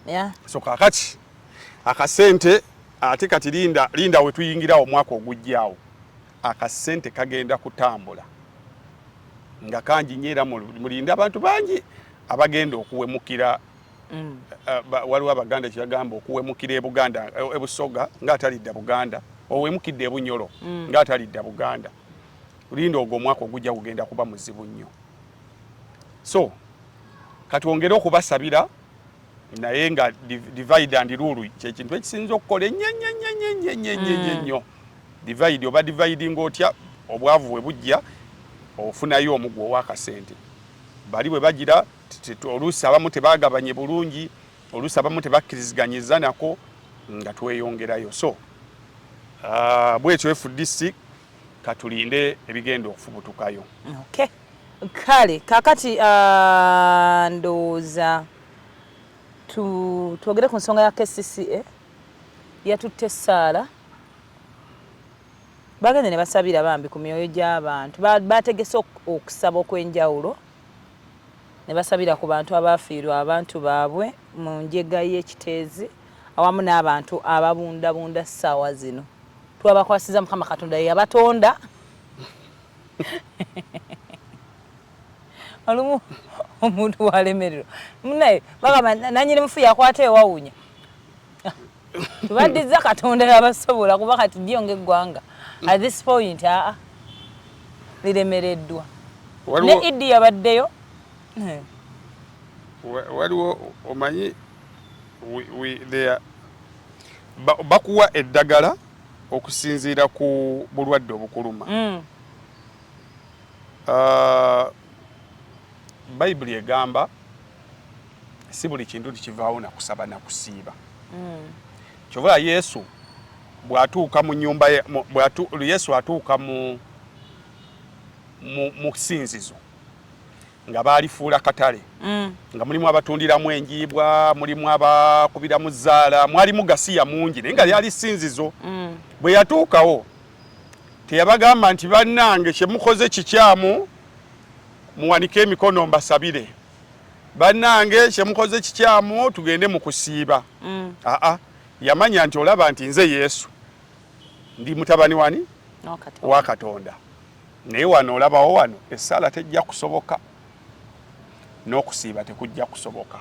yeah. so kakati akasente ate kati linda linda wetuyingirawo omwaka ogujjawo akasente kagenda kutambula nga kangi nyo era mulinde abantu bangi abagenda okuwemukira mm. uh, waliwo abaganda kyebagamba okuwemukira ebuganda eh, ebusoga nga atalidda buganda owemukidde ebunyolo mm. nga atalidda buganda linda ogwo omwaka ogujja kugenda kuba muzibu nnyo so katwongere okubasabira naye nga divide and rule kyekintu ekisinza okukola enyenyenyenyenyenyenyenyo mm. divide oba dividing otya obwavu bwe bujja ofunayo omugu owakasente bali bwe bagira oluusi abamu tebagabanye bulungi oluusi abamu tebakkiriziganyiza nako nga tweyongerayo so uh, bwekyo fdc katulinde ebigenda okufubutukayo okay. Kale kakati ah, ndowooza twogere ku nsonga ya KCCA yatutte essaala bagende ne basabira bambi ku myoyo gy'abantu baategese okusaba okw'enjawulo ne basabira ku bantu abaafiirwa abantu baabwe mu njega y'ekiteezi awamu n'abantu ababundabunda ssaawa zino twabakwasiza mukama katonda yeyabatonda olumu omuntu walemerero munaye bagamba nanyini mufu yakwata ewawunya tubaddiza katonda yabasobola kuba kati dyo ngaeggwanga at this point aa liremereddwa ne idi yabaddeyo eh. waliwo omanyi bakuwa eddagala okusinziira ku bulwadde obukuluma mm. uh, bayibuli egamba si buli kintu tikivaawo nakusaba nakusiiba mm. kyova yesu bwatuuka mu nyumba yesu atuuka mu musinzizo nga baalifuula katale mm. nga mulimu abatundiramu enjiibwa mulimu abakubiramu zaala mwalimu gasiya mungi naye nga mm. lyali sinzizo mm. bwe yatuukawo teyabagamba nti bannange kyemukoze kikyamu muwanike emikono mbasabire bannange kyemukoze kikyamu tugende mu kusiiba mm. aa yamanya nti olaba nti nze yesu ndi mutabani wani wa katonda naye wano olabawo wano essaala tejja kusoboka n'okusiiba tekujja kusoboka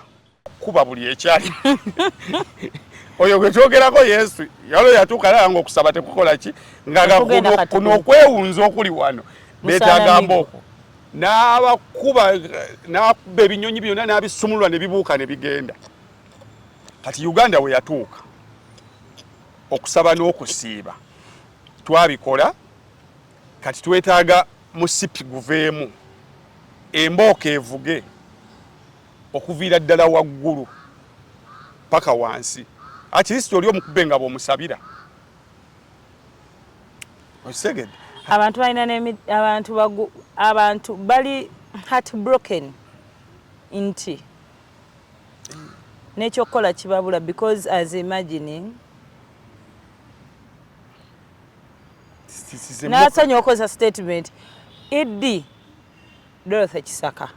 kuba buli ekyali oyo gwe twogerako yesu yalo yatuuka lala nga okusaba tekukola ki ngagakuno okwewunza okuli wano betagamba okwo n'abakuba n'akuba ebinyonyi byonna n'abisumulula ne bibuuka ne bigenda kati uganda we yatuuka okusaba n'okusiiba twabikola Kati twetaaga musipi guveemu, embooko evuge okuviira ddala waggulu paka wansi, at least oli omukube nga bw'omusabira. Okitegedde? Abantu balina n'emi abantu bagu abantu bali heartbroken nti n'ekyokukola kibabula because as imagining nasanya okozesa statement ed dorothy kisaka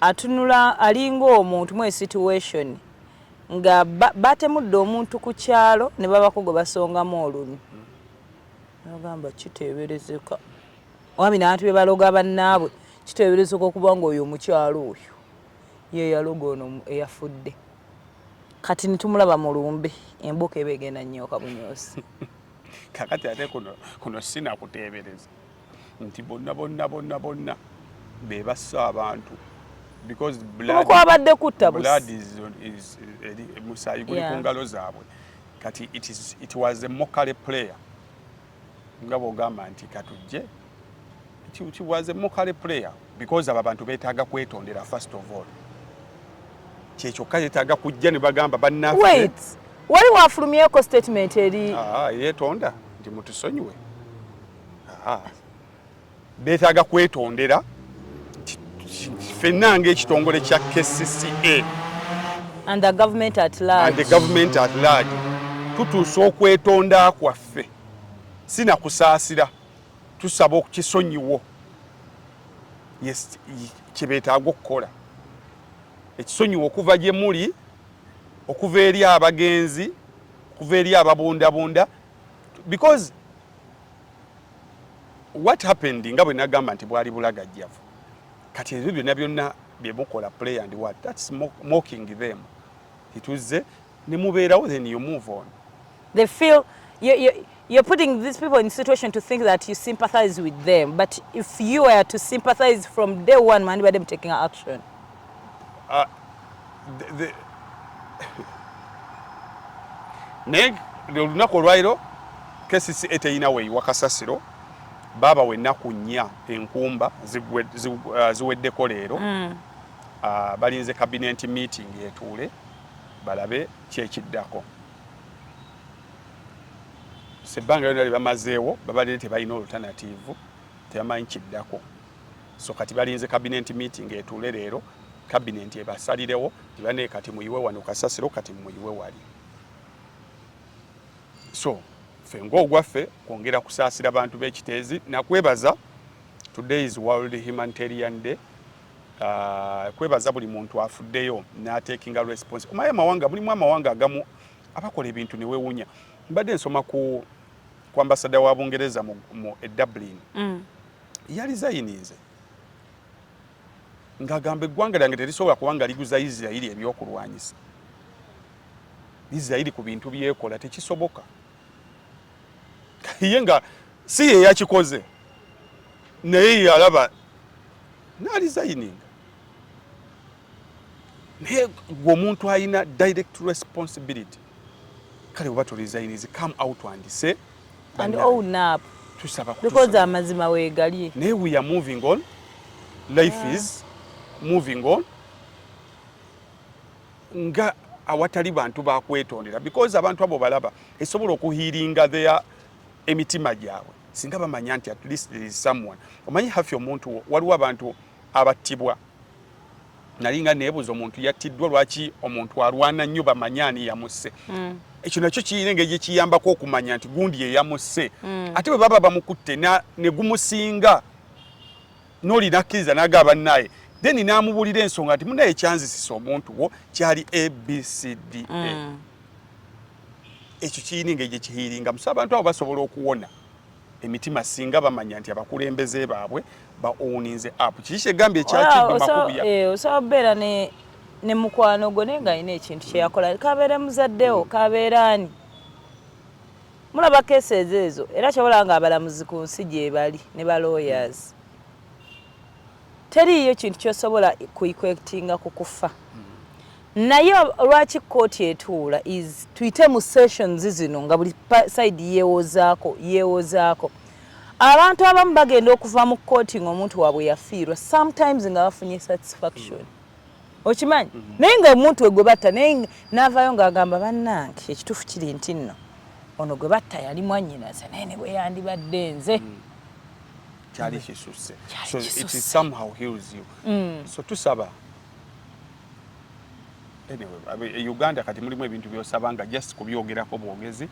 atunula alinga omuntu mwe situation nga batemudde omuntu ku kyalo ne babako gwe basongamu olunyi nagamba kiteeberezeka wami nabantu be baloga bannaabwe kiteeberezeka okuba nga oyo omukyalo oyo ye yaloga ono eyafudde kati nitumulaba mu lumbe emboka eba egenda nnyo kabunyosi kakati ate kuno kuno sinakuteebereza nti bonna bonna bonna bonna be bassa abantu kwabadde kutta musaayi guli ku ngalo zaabwe kati it was a mokale player nga bwogamba nti katujje She was a mockery player because abo abantu beetaaga kwetondera first of all. Kyekyokka yeetaaga kujja ne bagamba bannaffe. Wait, wali waafulumyeko statement eri? Ah, ah yeetonda nti mutusonyiwe. Ah, ah. beetaaga kwetondera ffenna ng'ekitongole kya KCCA and the government at large, and the government at large. tutuusa okwetonda kwaffe si na kusaasira tusaba okukisonyiwo kyebetaaga okukola ekisonyiwo okuva gye muli okuva eri abagenzi okuva eri ababundabunda because what happened nga bwe nagamba nti bwali bulagajjavu kati ebyo byonna byonna bye mukola play and what that's mocking them tituzze ne mubeerawo then you move on they feel you, you, you're putting these people in situation to think that you sympathize with them but if you were to sympathize from day one man them taking action uh, the, the... naye olunaku olwaliro kesisi eteyina weyiwa kasasiro baaba wenaku nnya enkumba uh, ziweddeko leero mm. uh, balinze kabineti meeting etuule balabe kyekiddako sebbanga lyona lyebamazeewo babadde tebalina olutanatiivu tebamanyi kiddako so kati balinze kabinenti meeting etuule leero kabinenti ebasalirewo tibane kati muyiwe wano kasasiro kati muyiwe wali so fe ngaogwaffe kwongera kusaasira bantu b'ekiteezi nakwebaza today is world humanitarian day uh, kwebaza buli muntu afuddeyo natekinga response omaye amawanga mulimu amawanga agamu abakola ebintu newewunya mbadde nsoma ku ku ambasada wa bungereza mu, mu e dublin mm. yali zayininze ngagamba eggwanga lyange terisobola kuba nga liguza isirairi ebyokulwanyisa isirairi ku bintu byekola tekisoboka ye nga si ye yakikoze naye yalaba nalizayininga naye gwe omuntu alina direct responsibility kale oba tolizayinizi come out and say and own up tusaba because amazima wegali naye we are moving on life yeah. is moving on nga awatali bantu bakwetondera because abantu abo balaba esobola okuhiringa their emitima gyabwe singa bamanya nti at least there is someone omanyi hafi omuntu waliwo abantu abattibwa nali nga nebuuza omuntu yattiddwa lwaki omuntu alwana nnyo bamanye ani yamusse mm. ekyo nakyo kirina engeri gyekiyambako okumanya nti gundi yeyamusse mm. ate bwe baba bamukutte negumusinga noli nakkiriza naga bannaye then namubuulira ensonga nti munaye kyanzisisa omuntu wo kyali abcd mm. ekyo kiyina engeri gyekihiiringa musa abantu abo basobola okuwona emitima singa bamanya nti abakulembeze baabwe bawuninze app kiki kyegambye ekyakimakubuya eh, osobola kubeera ne mukwano gwo naye nga alina ekintu kyeyakola kabeere muzaddewo kabeere ani Mulaba cases ezo era kyobola nga abalamuzi ku nsi gyebali ne ba lawyers teriiyo kintu kyosobola kuikwectinga ku kufa naye lwaki kkooti etuula is tuyite mu sessions zino nga buli side yewozaako yewozaako abantu abamu bagenda okuva mu kkooti ngaomuntu waabwe yafiirwa sometimes nga bafunye satisfaction mm. okimanyi mhm. naye nga omuntu we gwe batta naye n'avaayo ng'agamba bannange ekituufu kiri nti nno ono gwe batta yali mwannyinaze naye ne bwe yandibadde nze mm. kyali kisusse so it is somehow heals you mm. so tusaba anyway e uganda kati mulimu ebintu byosaba nga just kubyogerako bwogezi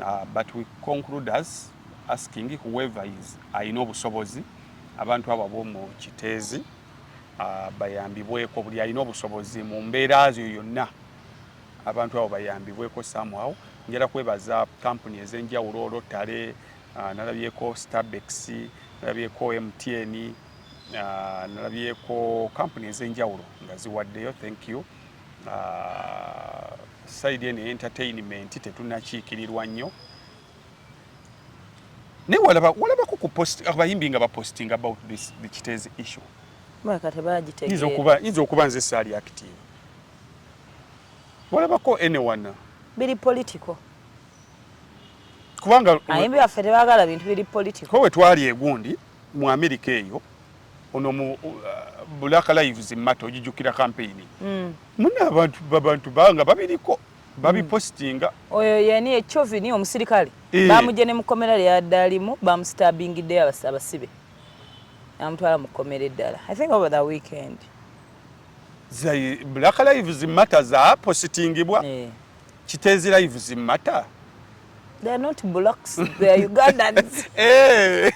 uh, but we conclude as asking whoever is alina obusobozi abantu abo ab'omu kiteezi ah, bayambibweko buli alina obusobozi mu mbeera zyo yonna abantu abo bayambibweko somehow njala kwebaza kampuni ez'enjawulo olotale ah, nalabyeko starbex nalabyeko mtn ah, nalabyeko kampuni ez'enjawulo nga ziwaddeyo thank you saidi eno entertainment tetunakiikirirwa nnyo naye walaba walabako ku post abayimbi nga baposting about this the kitezi issue mwaka tebagitegeera inza okuba inza okuba nze sali active walabako anyone biri political kubanga ayimbi baffe tebagala bintu biri political ko wetwali egundi mu America eyo ono mu uh, Black Lives Matter ojijukira campaign mm. muna abantu babantu banga babiriko babipositinga hmm. oyo yani echovini omusirikale eh. bamuje ne mukomera lyadalimu bamustabingiddeyo abasibe amutwala mu kkomera eddala i think over the weekend black lives matter zapositingibwa eh. kitezi lives matter they are not blacks they are ugandans eh.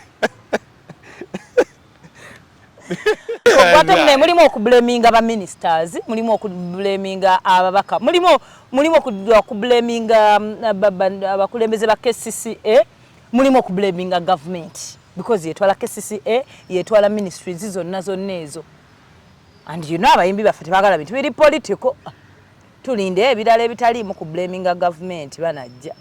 Ogwatamune mulimu okublaminga ba ministers, mulimu okublaminga ababaka, mulimu mulimu okublaminga um, abakulembeze ba KCCA, mulimu okublaminga government because yetwala KCCA, yetwala ministries zonna zonna ezo. And you know abayimbi baffe tebagala bintu biri political. Tulinde ebirala ebitaliimu kublaminga government banajja.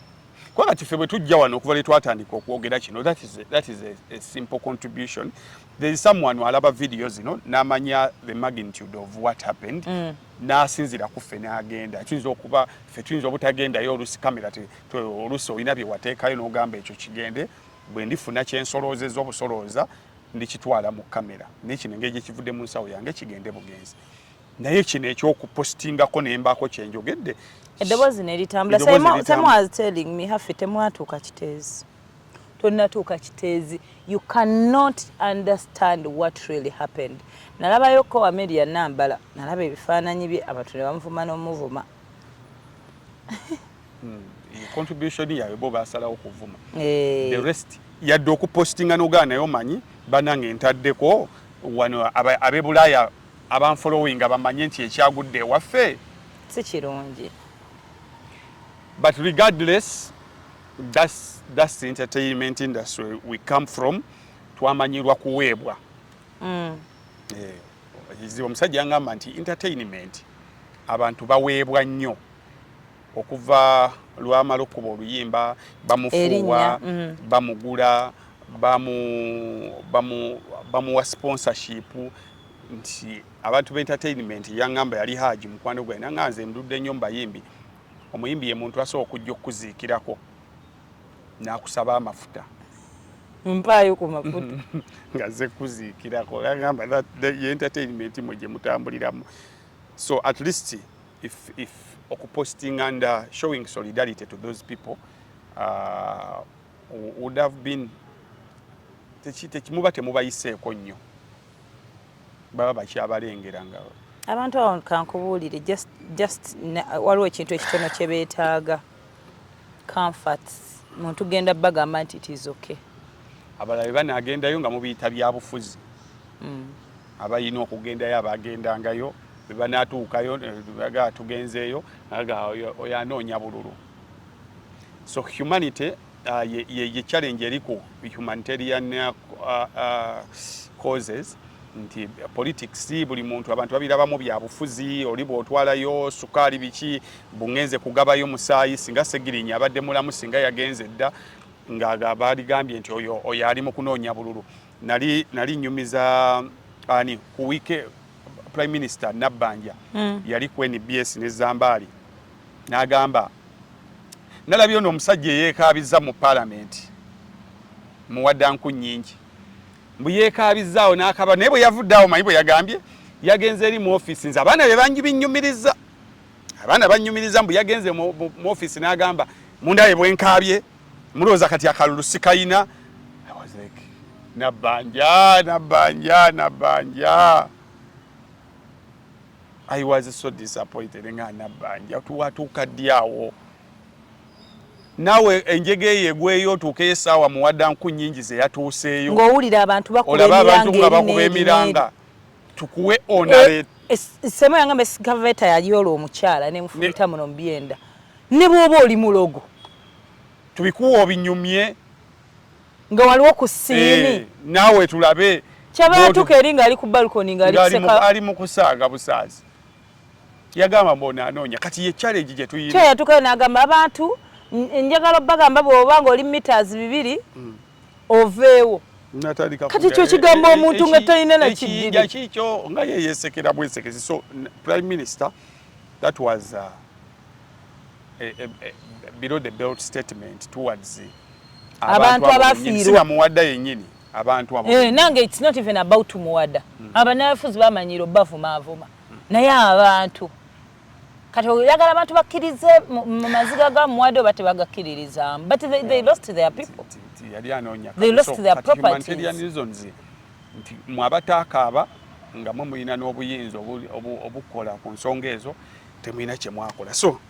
kubanga kife bwe tujja wano okuva lwe twatandika okwogera kino that is, a, that is a, a simple contribution there is someone alaba video zino n'amanya the magnitude of what happened mm. n'asinzira ku ffe n'agenda tuyinza okuba ffe tuyinza obutagendayo olusi kamera olusi olina bye wateekayo n'ogamba ekyo kigende bwe ndifuna kyensoloozeza obusolooza ndikitwala mu kamera nekino engeri gye kivudde mu nsawo yange kigende bugenzi naye kino ekyokupostingako nembaako kyenjogedde eddoboozi neritambula same as telling me hafe temwatuuka kiteezi tonatuuka kiteezi you cannot understand what really happened nalabayo ko amelia nambala nalaba ebifaananyi bye abantu ne bamuvuma n'omuvuma hmm, contribution yaabwe bo basalawo okuvuma eh. the rest yadde okupostinga nogaa naye omanyi banange ntaddeko wano abebulaaya abanfolowinga bamanye nti ekyagudde ewaffe si kirungi but regardless that's, that's the entertainment industry we come from twamanyirwa kuweebwa mm. eh, omusajja yangamba nti entertainment abantu baweebwa nnyo okuva lwamala okukuba oluyimba bamufuuwa mm. bamugula bamuwa sponsorship nti abantu be entertainment yangamba yali haji mukwano gwe nanga nze ndudde nnyo mubayimbi omuyimbi ye muntu asobola okujja okukuziikirako nakusaba amafuta mpaayo ku mafuta nga ze kuziikirako agamba ye entertainment mwe gye mutambuliramu so at least if if okupostinga and uh, showing solidarity to those people uh, would have been tekimuba temubayiseeko nnyo baba bakyabalengera nga abantu awo kankubuulire just just waliwo ekintu ekitono kye beetaaga comforts muntu genda bagamba nti it is okay abalala bebanagendayo nga mubiyita byabufuzi mm. abalina okugendayo abagendangayo bebanaatuukayo aga tugenzeeyo aga oyo anoonya bululu so humanity uh, ye, ye, ye challenge eri ku humanitarian uh, uh, causes nti politics buli muntu abantu babirabamu byabufuzi oli bwotwalayo sukaali biki bungenze kugabayo musaayi singa segirinya abadde mulamu singa yagenze dda nga baaligambye nti oyo oyo ali mu kunoonya bululu nali nali nyumiza ani ku wike prime minister Nabbanja mm. yali ku NBS ne Zambaali n'agamba nalabye ono omusajja eyeekaabiza mu palamenti muwadanku nyingi mbu yeekaabizaawo n'akaba naye bwe yavudde awo manyi bwe yagambye yagenze eri mu ofiisi nze abaana be bangi binnyumiriza abaana bannyumiriza mbu yagenze mu ofiisi n'agamba mundaye bwenkaabye Mulowooza kati akalulu sikayina nabanja nabanja nabanja I was so disappointed nga nabanja tuwatuuka ddi awo naawe enjega eyo egweyo otuukeyo esaawa muwadda nku nyingi zeyatuuseeyo ngaowulira abantu bakulaba abantu nga bakuba emiranga tukuwe onale eh, eh, semo yangamba esigaveta yali olwo omukyala nemufumita muno mubyenda Ne bwoba oli mulogo. Tubikuwa obinyumye. Nga waliwo ku siini. Eh, naawe tulabe. Kyaba yatuka eri nga ali ku balcony nga ali kuseka. Ali mu kusaaga busaazi. Yagamba mbona anoonya. Kati ye challenge gye tuyina. Kyo yatukayo n'agamba abantu njagala obbagamba bw'oba ng'oli meters bibiri hmm. oveewo. kati kyo kigambo eh, eh, omuntu nga talina na kiyinja kikyo nga yeyesekera bwesekezi so prime minister that was uh, eh, eh, eh, below the belt statement towards abantu abafiirwa muwada yenyini abantu abo eh nange it's not even about muwada mm. abanafuzi bamanyiro bavuma avuma mm. naye abantu kati oyagala abantu bakkirize mu maziga ga muwada oba tebagakkiririzamu but they, they lost their people yali anoonya they lost their properties nti mwabataakaaba nga mwe mulina n'obuyinza obukola ku nsonga ezo temulina kyemwakola so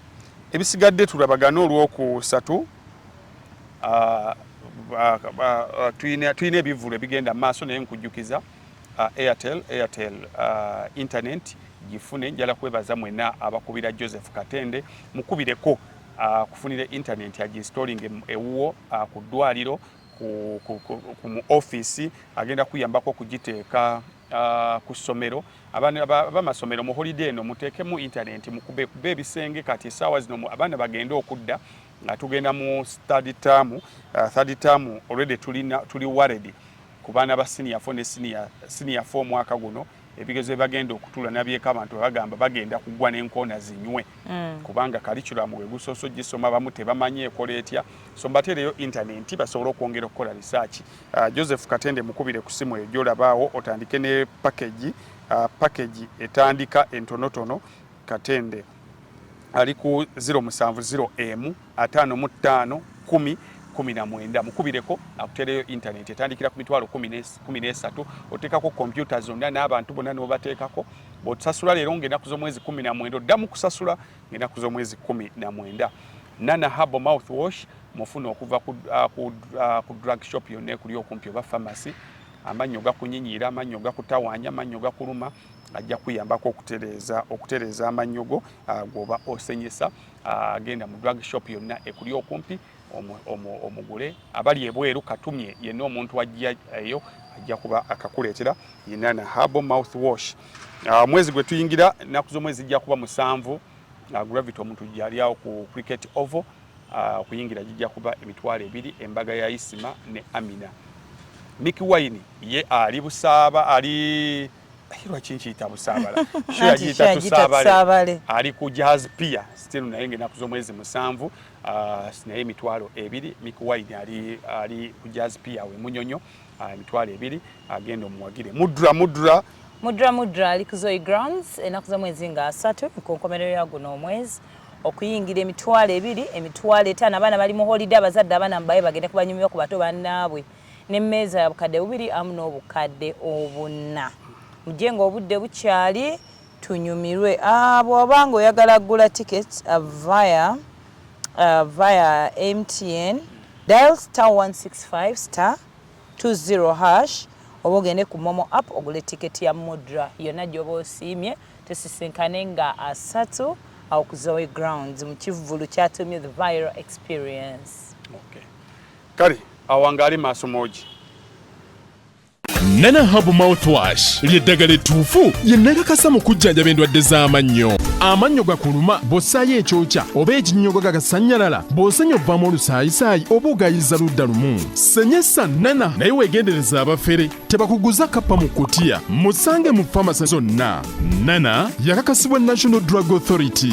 ebisigadde tulabagane olwokusatu uh, uh, tulina ebivulu ebigenda maaso naye nkujjukiza uh, airtel airtel uh, internet gifune njala kwebaza mwena abakubira joseph katende mukubireko akufunire uh, internet aginstalling ewuwo uh, ku ddwaliro ku, ku, ku, ku mu office agenda kuyambako okugiteeka Uh, ku ssomero abamasomero mu holiday eno muteekemu internet mukube kuba ebisenge kati esaawa zino abaana bagende okudda nga tugenda mu study term uh, third term already tulina tuli worried ku baana ba senior four ne senior senior four mwaka guno ebigezo bagenda okutula nabyeko abantu bagamba bagenda kugwa n'enkoona zinywe mm. kubanga kalikiramu we gusooso gisoma bamu tebamanyi ekola etya so mbateereyo internet basobole okwongera okukola risaaki Uh, Joseph Katende mukubire ku simu eyo gyolabaawo otandike ne package uh, package etandika entonotono Katende ali ku 070 emu ataano mu ttaano kumi kumi na mwenda mukubireko akutereyo intaneti etandikira ku mitwalo kumi n'esatu oteekako kompyuta zonna n'abantu bonna n'obateekako bw'otusasula leero ng'enaku z'omwezi kumi na mwenda oddamu kusasula ng'enaku z'omwezi kumi na mwenda. Nana Habo mouth wash mufuna okuva ku, uh, ku, uh, ku drug shop yonna ekuli okumpi oba pharmacy. Amannyo gakunyinyira, amannyo gakutawanya, amannyo gakuluma ajja kuyambako okutereeza okutereeza amannyo go uh, gwoba osenyesa. Uh, genda mu drug shop yonna ekuli okumpi. omugule abali ebweru katumye yenna omuntu ajja eyo ajja kuba akakuleetera inana harbo mouth wash ah, mwezi gwe tuyingira ennaku z'omwezi zijja kuba musanvu ah, gravity omuntu gyalyawo ku cricket ovo ah, okuyingira gijja kuba emitwalo ebiri embaga ya isima ne amina miki wine ye ali busaaba ali lwaki nkiyita busaabala sho yagiyita tusaabale ali ku jazz pia still naye ngaenaku z'omwezi musanvu Ah, naye emitwalo ebiri mikuwaini ali, ali ku jazz pia we munyonyo ah, emitwalo ebiri agenda omuwagire mudra mudra mudra mudra ali ku zoe grounds enaku za mwezi nga asatu nkonkomerero ya guno omwezi okuyingira emitwalo ebiri emitwalo etaano abaana bali mu holiday abazadde abaana mubaye bagende kubanyumibwa ku bato bannaabwe nemmeeza ya bukadde bubiri amu n'obukadde obunna mujje nga obudde bukyali tunyumirwe aah bwoba nga oyagala kugula ticket via via MTN dial star 165 star 20 hash oba ogende ku momo app ogule ticket ya mudra yonna gyoba osiimye tusisinkane nga asatu awo ku zoe grounds mu kivvulu kyatumye the viral experience okay. kale awangaali maaso moogi nana habu mouthwash lyeddagala ettuufu yennagakasa mu kujjanjaba endwadde z'amannyo amannyo gakuluma bw'ossaayo ekyokya oba ekinnyogo gagasannyalala bw'osenya obvamu olusaayisaayi oba ogayiza ludda lumu senyesa nana naye weegendereza abafere tebakuguza kappa mu kutiya musange mu famasi zonna nana yakakasibwa national drug authority